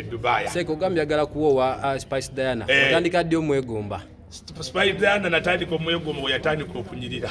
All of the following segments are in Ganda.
Dubai. Seko gambya gala kuwowa uh, Spice Diana. Eh. Atandika ddi omwegomba. Spice Diana natandika omwegomba we yatandika okunyirira.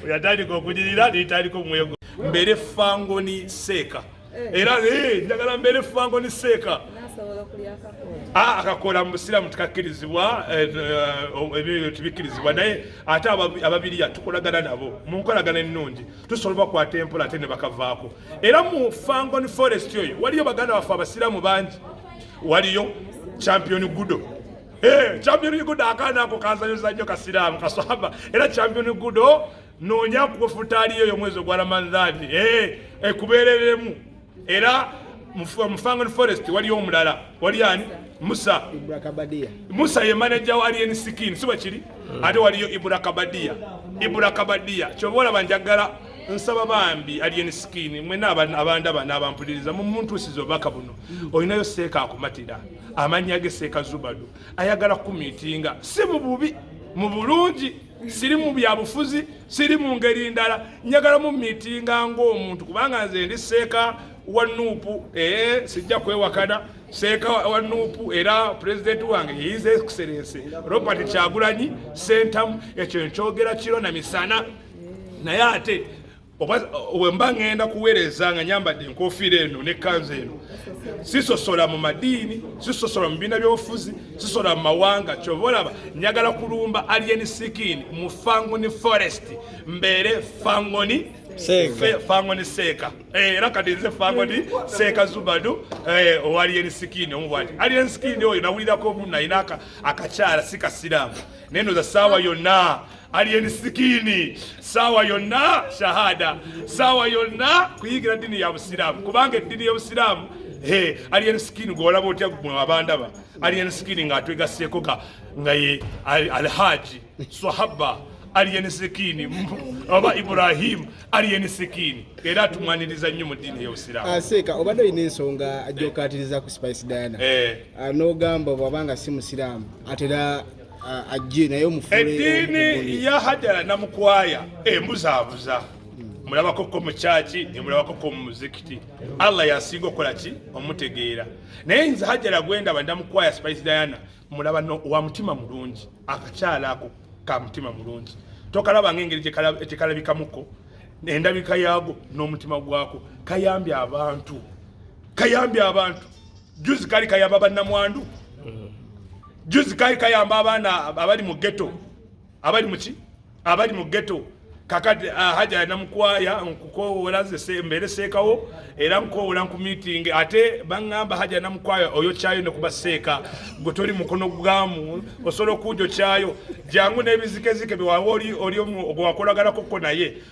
We yatandika okunyirira ne yatandika omwegomba. Mbere fangoni seka. Eh. Era eh ndagala mbere fangoni seka. Nasobola kulya kako. Ah, akakola mu musiraamu tekakkirizibwa eh, eh, ebyo tebikkirizibwa naye ate ababiriya tukolagana nabo mu nkolagana ennungi tusobola bakwata empola ate ne bakavaako era mu fangon forest oyo waliyo baganda baffe abasiraamu bangi waliyo champion gudo eh, champion gudo akaana ako kazanyoza nnyo kasiraamu kaswahaba era champion gudo noonya kufutaaliyo oyo omwezi ogwa ramadhani eh, ekubeereremu era mufangan forest waliyo omulala wali ani musa musa ye manaja wa alien skin siba kiri hmm. ate waliyo ibura kabadia ibura kabadia kyoba olaba njagala nsaba bambi alien skin mwena abandaba nabampuliriza mumuntusiza obubaka buno hmm. olinayo seeka akumatira amannya ge seeka zubadu ayagala kumitinga si mububi mu bulungi siri mu byabufuzi siri mu ngeri ndala njagala mu mitinga ng'omuntu kubanga nze ndi seeka wa nuupu ee sijja kwewakana seeka wa nuupu era pulezidenti wange yeyiza ekiserense robert kyagulanyi sentamu ekyo nkyogera kiro na misana naye ate wemba ngenda kuweereza nga nyambadde enkofiira eno nekkanza eno sisosola mu madiini sisosola mu bibiina byobufuzi sisosola mu mawanga kyova olaba njagala kulumba alien sikin mu fangoni forest mbeere fangoni fangoni seeka eh, era kati nze fangoni seeka zubadu eh, owa alien sikin omubwati alien sikin oyo nawulirako omu nayina akakyala sikasiraamu naye noza saawa yonna Alien Skin sawa yonna shahada sawa yonna kuyigira dini ya Busiraamu kubanga eddini y'Obusiraamu he Alien Skin gwolaba otya gwe abandaba Alien Skin nga atwegaseeko ka nga ye Alhaji Swahaba Alien Skin oba Ibrahim Alien Skin era tumwaniriza nnyo mu dini y'Obusiraamu. Aseeka ah, obadde olina ensonga ajokatiriza ku Spice Diana. Eh. Ah, N'ogamba bwabanga si Musiraamu atera ah, ajje naye omufule eddiini ya hajara namukwaya embuzaabuza hmm. mulabako ko mu kyaki nemulabako ko mu muzikiti allah yasinga okukola ki omutegeera naye nze hajara gwendaba ndamukwaya spice diana mulaba wa mutima mulungi akakyala ako ka mutima mulungi tokalaba ng'engeri gyekalabikamuko endabika yaago n'omutima gwako kayambye abantu kayambye abantu juzi kali kayamba bannamwandu juzi kali kayamba abaana abali mu geto abali muki abali mu geto kakati ah, haja namukwaya nkukowoola nze mbeere seekawo era nkukowoola nkumiitingi ate baŋŋamba haja namukwaya oyo kyayo ne kuba seeka gwe toli mukono gwamu osobola okuujo kyayo jangu n'ebizikezike byewawa oli gwewakolaganakokko naye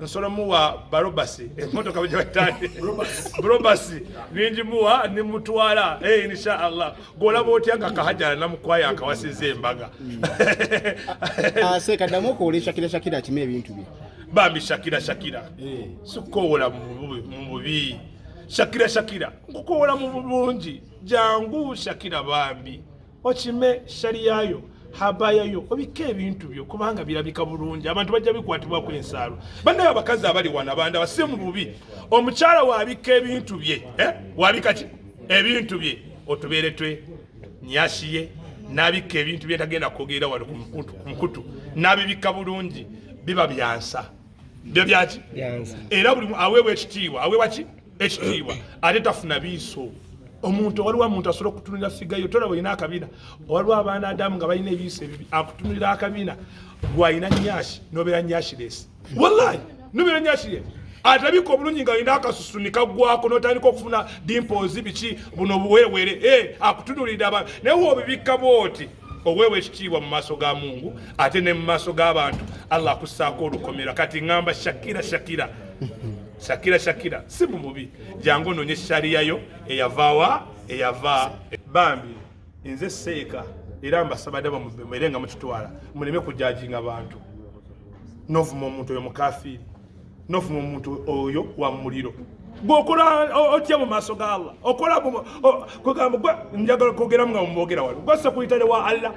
nsobola muwa barobasi emotoka eh, bwejabatande brobasi ningi muwa nimutwala hey, eh, insha allah golaba otya nga kahajala namukwaya akawasiza embaga mm. aseka ah, ah, damu okwolesha kira shakira akime ebintu bye bambi shakira shakira eh. sikukowola mububi shakira shakira nkukowola mubulungi jangu shakira bambi okime shariya yo habaya yo obike ebintu byo kubanga birabika bulungi abantu bajja bikwatibwa ku ensalo banaye abakazi abali wana banda base mu bubi omukyala wabika ebintu bye eh? wabika ki ebintu bye otubeere twe nyashiye nabika ebintu bye tagenda kwogerera wali ku mukutu nabibika bulungi biba byansa byo byaki era buli aweebwa ekitiibwa aweebwa ki ekitiibwa ate tafuna biiso omuntu waliwo omuntu asobola okutunulira figayo tolaba olina akabina waliwo abaana adamu nga balina ebiiso ebibi akutunulira akabina gwalina nyashi nobeera nyashiresi wallahi nobeera nyashiresi atabika obulungi nga olina akasusu nikagwako notandika okufuna dimpozi biki buno buwerewere e eh, akutunulira aba naye wobibikka bwoti oweewa ekitiibwa mu maaso ga mungu ate ne mu maaso g'abantu allah akussaako olukomera kati ŋamba shakira shakira Shakira Shakira si mu mubi jangu ononye sharia yo eyavawa eyava bambi nze seeka era mbasaba daba mubere nga mukitwala muleme kujajinga abantu novuma omuntu oyo mukafiri novuma omuntu oyo wa muliro gwokola otya mu maaso ga allah okola kwegamba njagala kwogeramu nga mumwogera wano gwasakuyitale wa allah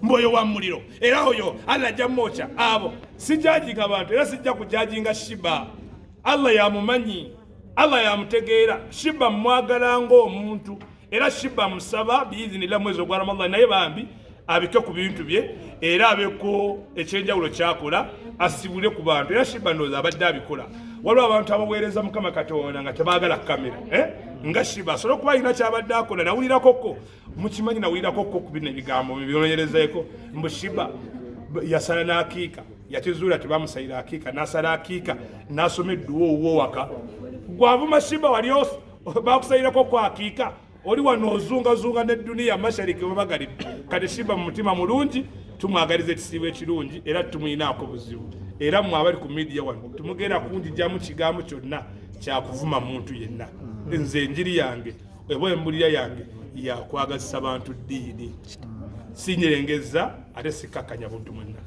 mboyo wa muliro era oyo allah ajja mumwokya abo sijajinga bantu era sijja kujajinga shiba allah yamumanyi allah yamutegeera shiba mwagala ngaomuntu era shiba musaba biizinila mwezi ogwa ramadan naye bambi abike ku bintu bye era abeko ekyenjawulo kyakola asibule ku bantu era shiba ndooza abadde abikola waliwo abantu abaweereza mukama katonda nga tebagala kamera eh? nga shiba asobole okuba alina kyabadde akola nawulirakoko mukimanyi nawulirako ko ku bino ebigambo byononyerezaeko mbu shiba yasala n'akiika yakizuula tebamusayira akiika nasala akiika nasoma edduwa owuwo waka gwavuma shiba wali bakusayirako ku akiika oli wano ozungazunga ne duniya mashariki webagalibu kati shiba mu mutima mulungi tumwagaliza ekisiibo ekirungi era tumuyinaako buzibu era mwe abali ku midiya wano tumugenda kunjijamu kigambo kyonna kyakuvuma muntu yenna nze enjiri yange eba embulira yange yakwagazisa bantu ddiini sinyerengezza ate sikkakkanya buntu mwenna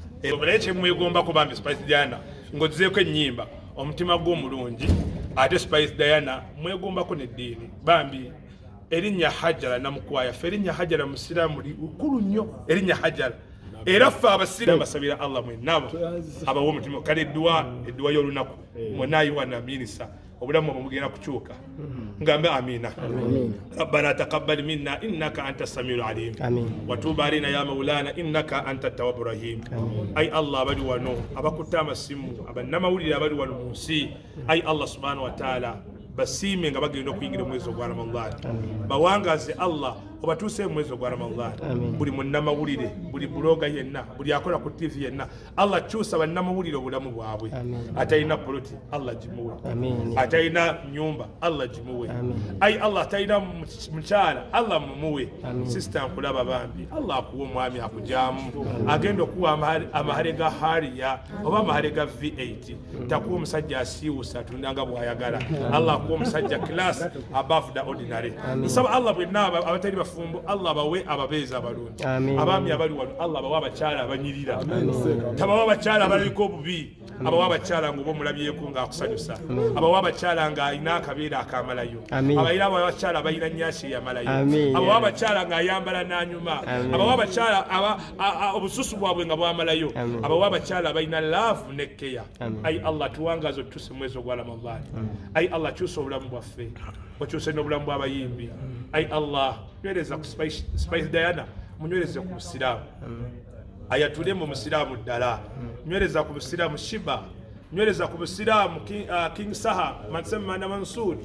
naye kyemwegombako bambi spice diana ng'ozizeeko ennyimba omutima gwe omulungi ate spice diana mwegombako neddiini bambi erinnya hajara namukwaya fe erinnya hajara musiraamu likulu nnyo erinnya hajara era ffe abasira basabira allah mwenaba abawa omutima kale edduwa edduwa y'olunaku eh. mwenayiwa naminisa obulamu obwo bugenda kukyuka ngambe amina rabbana taqabbal minna innaka anta samiul alim watuba alaina ya maulana innaka anta tawabu rahim ai allah abali wano abakutte amasimu abannamawulire abali wano mu nsi ai allah subhanahu wataala basiime nga bagenda okuyingira omwezi ogwa ramadhan bawangaze allah obatuuse mu mwezi ogwa ramadhan buli munnamawulire buli buloga yenna buli akola ku tivi yenna Allah kyusa bannamawulire obulamu bwabwe atalina poloti Allah gimuwe atalina nyumba Allah gimuwe ayi Allah atalina mukyala Allah mumuwe sisita nkulaba bambi Allah akuwa omwami akujamu agenda okuwa amahare ga hariya oba amahare ga v8 takuwa omusajja asiiwusa atunda nga bwayagala allah akuwa omusajja class above the ordinary nsaba allah bwenna abatali bafumbo allah abawe ababeezi abalungi abaami abali wano allah abawe abakyala abanyirira tabawa abakyala abalabika obubi abawa abakyala ngaoba omulabyeko ngaakusanyusa abawa abakyala ngaalina akabeera akamalayo abaira abawa abakyala abalina nyasi eyamalayo abawa abakyala ngaayambala nanyuma abawa abakyala obususu bwabwe nga bwamalayo abawa abakyala abalina laavu ne keya ayi allah tuwangaza otuse mwezi ogwa ramadan ayi allah kyusa obulamu bwaffe okyuse n'obulamu bw'abayimbi ayi allah nywereza ku spice diana munywereze ku busiraamu ayatule mu musiraamu ddala nywereza ku busiraamu shiba nywereza ku busiraamu uh, king saha mansemana mansur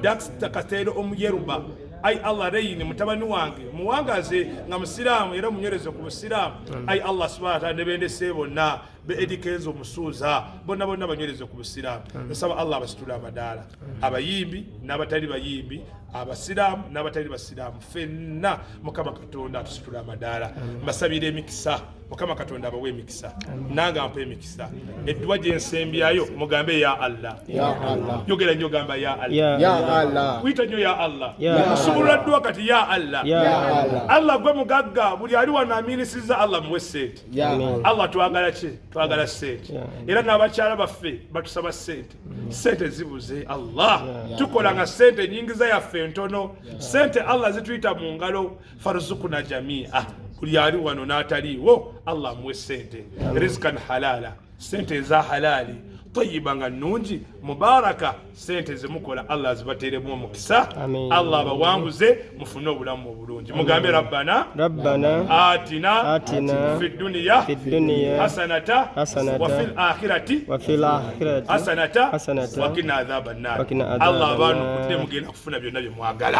dax kateero omuyeruba ai allah reyini mutabani wange muwangaze nga musiraamu era munywereze ku busiraamu ai allah subhana taala ne bendese bonna be edi kenzo musuuza bonna bonna banywereze ku busiraamu nsaba allah abasitule amadaala abayimbi n'abatali bayimbi abasiraamu n'abatali basiraamu fenna mukama katonda atusitule amadaala mbasabira emikisa mukama katonda abawe emikisa nange ampa emikisa edduwa gye nsembyayo mugambe ya allah yogera nnyo gamba ya allah kuyita nnyo ya allah nsubulula dduwa kati ya allah allah gwe mugagga buli ali wano aminisiza allah muwe sente allah twagala ki twagala sente era n'abakyala baffe batusaba sente mm. sente zibuze allah tukola nga sente enyingiza yaffe ntono sente allah zituyita mu ngalo farzukuna jamia buli ali wano n'ataliiwo allah amuwe sente rizkan halala sente eza halaali tayiba nga nnungi mubaraka sente zemukola allah azibateremu omukisa allah abawanguze mufune obulamu obulungi mugambe rabbana atina fi duniya hasanata wafi lakhirati hasanata wakina adhaba nar allah abantu kudde mugenda kufuna byonna byemwagala